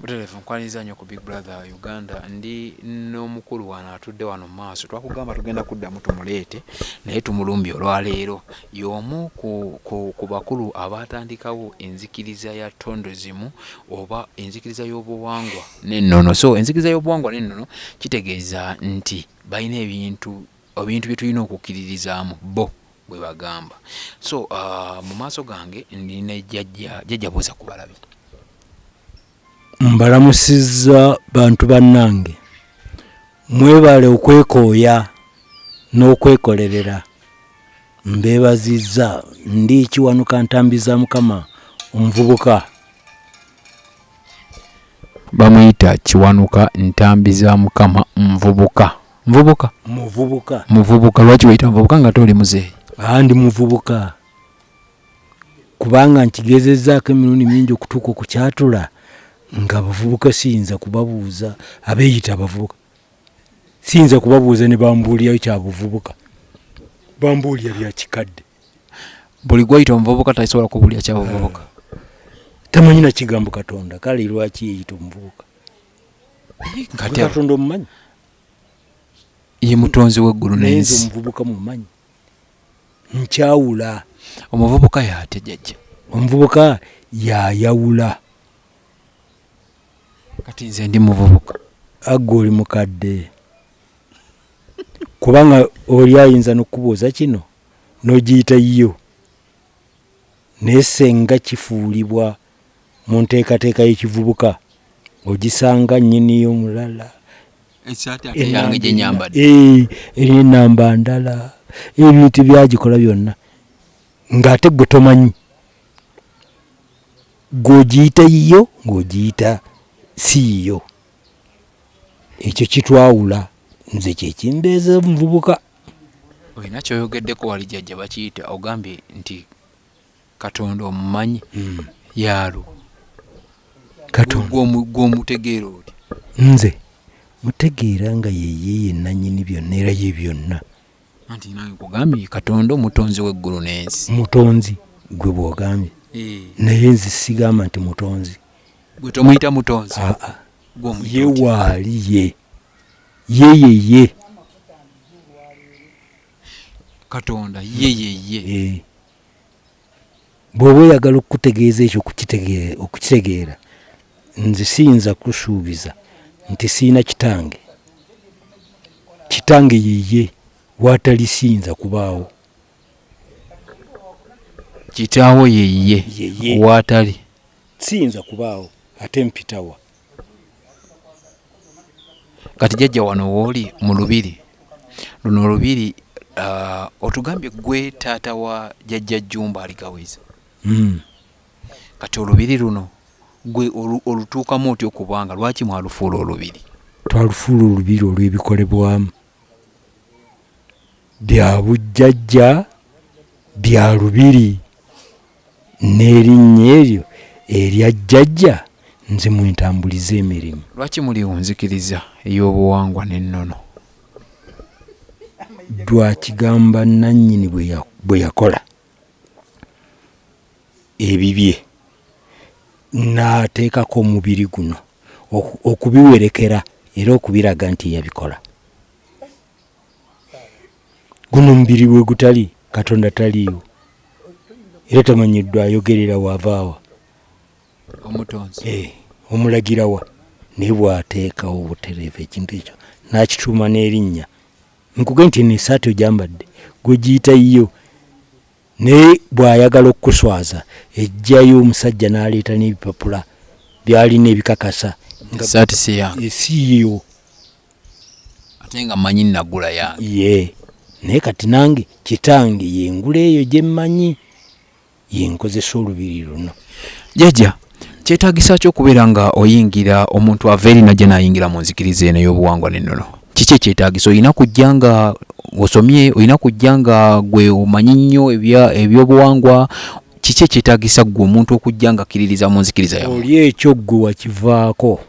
Butereevu nkwaniriza nnyo ku Big Brother Uganda. Ndi n'omukulu wano atudde wano mu maaso. Twakugamba tugenda kuddamu tumuleete naye tumulumbye olwaleero. Y'omu ku, ku, ku bakulu abaatandikawo enzikiriza ya tondozimu oba enzikiriza y'obuwangwa n'ennono. So enzikiriza y'obuwangwa n'ennono kitegeeza nti balina ebintu ebintu bye tulina okukkiririzaamu bo bwe bagamba so uh, mu maaso gange ndi ne jjajja jjajja buuza ku balabi mbalamusizza bantu bannange mwebale okwekooya n'okwekolerera mbeebazizza ndi kiwanuka ntambi za mukama omuvubuka bamuyita kiwanuka ntambi za mukama nvubuka Mvubuka. Muvubuka. Muvubuka lwaki weyita muvubuka nga tooli muzeeyi? Aa ndi muvubuka kubanga nkigezezaako emirundi mingi okutuuka okukyatula nga abavubuka siyinza kubabuuza abeeyita abavubuka siyinza kubabuuza ne bambuulirayo kya buvubuka bambuulira bya kikadde buli gwayita omuvubuka tasobola kubuulira kya buvubuka tamanyi na kigambo katonda kale lwaki yeyita omuvubuka katonda omumanyi ye mutonzi w'eggulu naye nze n'ensi. omuvubuka mumanyi nkyawula Omuvubuka y'atya Jjajja? omuvubuka y'ayawula. Kati nze ndi muvubuka. A, Ggwe oli mukadde kubanga oli ayinza n'okukubuuza kino n'ogiyita yiyo naye ssenga kifuulibwa mu nteekateeka y'ekivubuka ogisanga nnyiniyo mulala eri enamba ndala ebintu byagikola byonna ng'ate gwe tomanyi gw'ogiyita yiyo ng'ogiyita si yiyo ekyo kitwawula nze kyekimbeeza omuvubuka olina kyoyogeddeko wali jajja bakiyita ogambye nti katonda omumanyi hmm. yaalo gwomutegeera oti nze mutegeera nga yeye yenanyini byonna era ye byonna anti nange kugambye katonda omutonzi weggulu n'ensi mutonzi gwe bwogambye eh. naye nze sigamba nti mutonzi gwe tomuyita mutonzi ah, ah. ye waali ye yeyeye katonda yeyeye eh. bwoba oyagala okukutegeeza ekyo okukitegeera nze siyinza kusuubiza nti siina kitange kitange yeye watali siyinza kubaawo kitaawo yeye watali siyinza kubaawo ate mpitawa kati jajja wano wooli mu lubiri luno olubiri uh, otugambye gwe taata wa jajja jumba aligawiza mm. kati olubiri luno gwe olutuukamu otya okubanga lwaki mwalufuula olubiri twalufuula olubiri olw'ebikolebwamu bya bujjajja bya lubiri N'erinnya eryo erya jjajja nze mwe ntambuliza emirimu. Lwaki muli ku nzikiriza ey'obuwangwa n'ennono? Lwakigamba nnannyini bwe yakola ebibye n'ateekako omubiri guno okubiwerekera era okubiraga nti yabikola. guno mubiri we gutali katonda taliiwo era tamanyiddwa ayogerera wavaawa omutonzi eh, omulagirawa naye bwateekawo obutereevu ekintu ekyo nakituuma n'erinnya nkuge nti eno esaati ojambadde gwegiyita yiyo Naye bw'ayagala okukuswaza eggyayo omusajja n'aleeta n'ebipapula by'alina ebikakasa nga essaati si yange eh, si yiyo ate nga mmanyi nagula yange ye naye kati nange kitange yengula eyo gye mmanyi yenkozesa olubiri luno jajja kyetaagisa ki okubeera nga oyingira omuntu ava eri najja nayingira mu nzikiriza eno ey'obuwangwa n'ennono kiki ekyetaagisa olina kujja nga osomye olina kujja nga gwe omanyi nnyo ebyobuwangwa kiki ekyetaagisa ggwe omuntu okujja nga akkiririza mu nzikiriza yawe oli ekyo ggwe wakivaako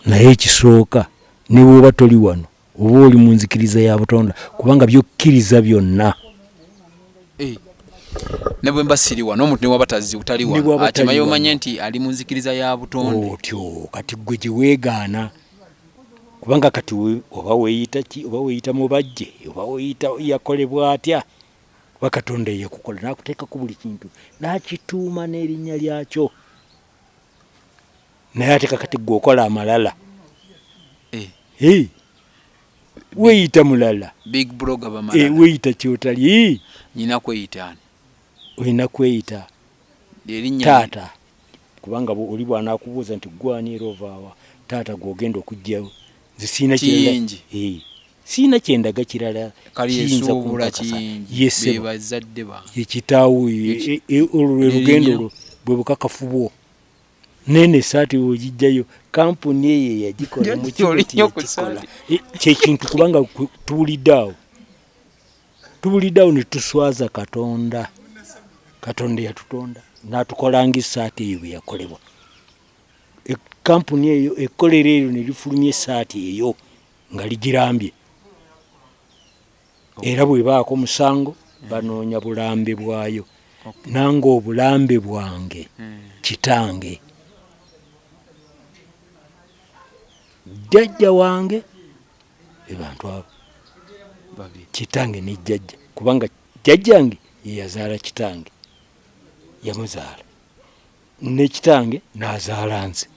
naye ekisooka ne bwoba toli wano oba oli mu nzikiriza ya butonda kubanga byokkiriza byonna eh, ne bwe mba siri wano omuntu newaba tazzi utali wano akimaye omanye nti ali mu nzikiriza ya butonda otyo kati gwe gye weegaana kubanga kati oba weeyita ki oba weeyita mubajje oba weeyita yakolebwa atya kuba katonda eyakukola n'akuteekako buli kintu n'akituuma n'erinnya lyakyo naye ate kakati gwe okola amalala eh. hey. weyita mulala eh, weyita kyotali nyina kweyita ani olina kweyita taata kubanga oli bwanakubuuza nti gwani era ovaawa taata gwogenda okugjawo nze siina kiyingi eh. siina kyendaga kirala kiyinza kumpakasa yesebazadde ba ekitaawo olwo lwe lugendo olwo bwe bukakafu bwo nene esaati wogijjayo kampuni eyo eyagikola mukiekikola e, kyekintu kubanga tuwulidde awo tuwulidde awo netuswaza katonda katonda yatutonda natukolanga esaati eyo bweyakolebwa e, kampuni eyo ekolera eyo nelifulumya esaati eyo nga ligirambye Era bw'ebaako omusango banoonya bulambe bwayo. Nange obulambe bwange kitange, jjajja wange be bantu abo, kitange ne jjajja kubanga jjajjange ye yazaala kitange yamuzaala ne kitange n'azaala nze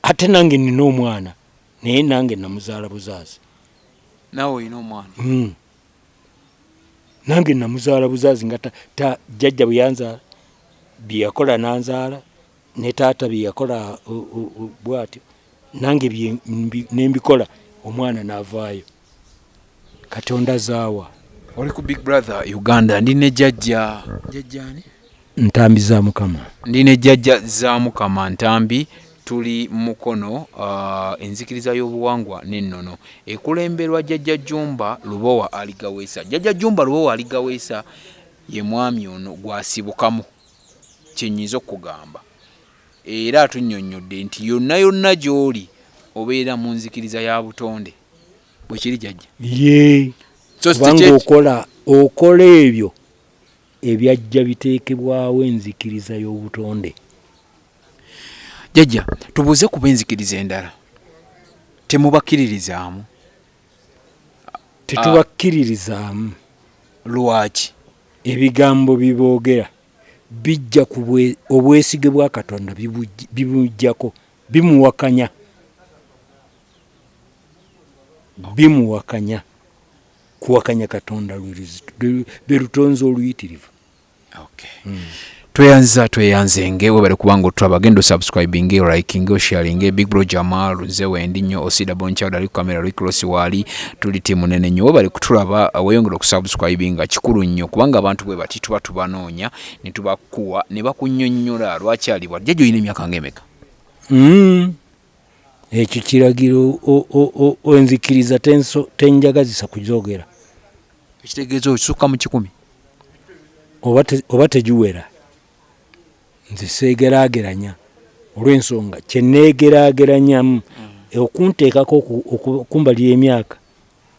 ate nange nina omwana Naye nange namuzaala buzaazi. Naawe olina omwana? Hmm. Nange namuzaala buzaazi nga jjajja bwe yanzaala, bye yakola nanzaala ne taata bye yakola bw'atyo nange ne mbikola omwana n'avaayo. katonda zaawa oli ku big brother uganda ndi ne jajja jajja ani ntambi za mukama ndi ne jajja za mukama ntambi tuli mukono uh, enzikiriza y'obuwangwa n'ennono ekulemberwa jajja jumba lubowa aligaweesa jajja jumba lubowa aligaweesa ye mwami ono gwasibukamu kyenyinza okugamba era atunyonyodde nti yonna yonna gy'oli obeera mu nzikiriza ya butonde bwekiri jajja ye kubanga okola okola ebyo ebyajja biteekebwawo enzikiriza y'obutonde jajja tubuuze kuba enzikiriza endala temubakkiririzaamu tetubakkiririzaamu lwaki ebigambo biboogera bijja ku obwesige bwa katonda bimujjako bimuwakanya bimuwakanya kuwakanya katonda lwerutonzi oluyitirivu hmm. tweyanziza tweyanzenge webale kubanga otulaba agenda osubscribinge olikinge osharinge big bro jamal nze wendi nnyo osida bonchild ali kukamera ali kulosi waali tuli tiimu nene nnyo webale kutulaba uh, weyongera okusubscribinga kikulu nnyo kubanga abantu bwe bati tuba tubanoonya ne tubakuwa ne bakunyonnyola lwaki alibwa jjajja olina emyaka ngaemeka hmm. Ekyo kiragiro o, o, o, o enzikiriza tenso, tenjagazisa kuzogera. Ekitegeeza okisukka mu kikumi. Oba, te, oba tegiwera. Nze seegeraageranya olw'ensonga kye neegeraageranyamu mm. okunteekako okumbalira emyaka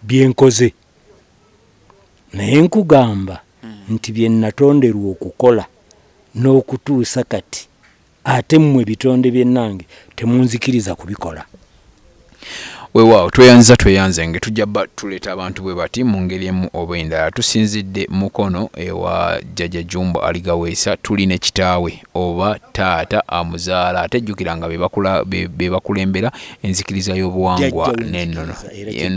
bye nkoze naye nkugamba mm. nti bye natonderwa okukola n'okutuusa kati ate mmwe bitonde byennange temunzikiriza kubikola wewaawo tweyanziza tweyanze nge tujja ba tuleeta abantu bwe bati mu ngeri emu oba endala tusinzidde mukono ewa jjaja jumbo aligaweesa tuli ne kitaawe oba taata amuzaala ate jjukira nga be bakulembera enzikiriza y'obuwangwa n'ennono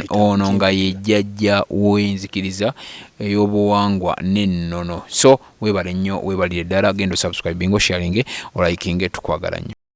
ono nga ye jjajja w'enzikiriza ey'obuwangwa n'ennono so Webale nnyo webalire ddala genda osubscribinge osharinge olayikinge tukwagala nnyo.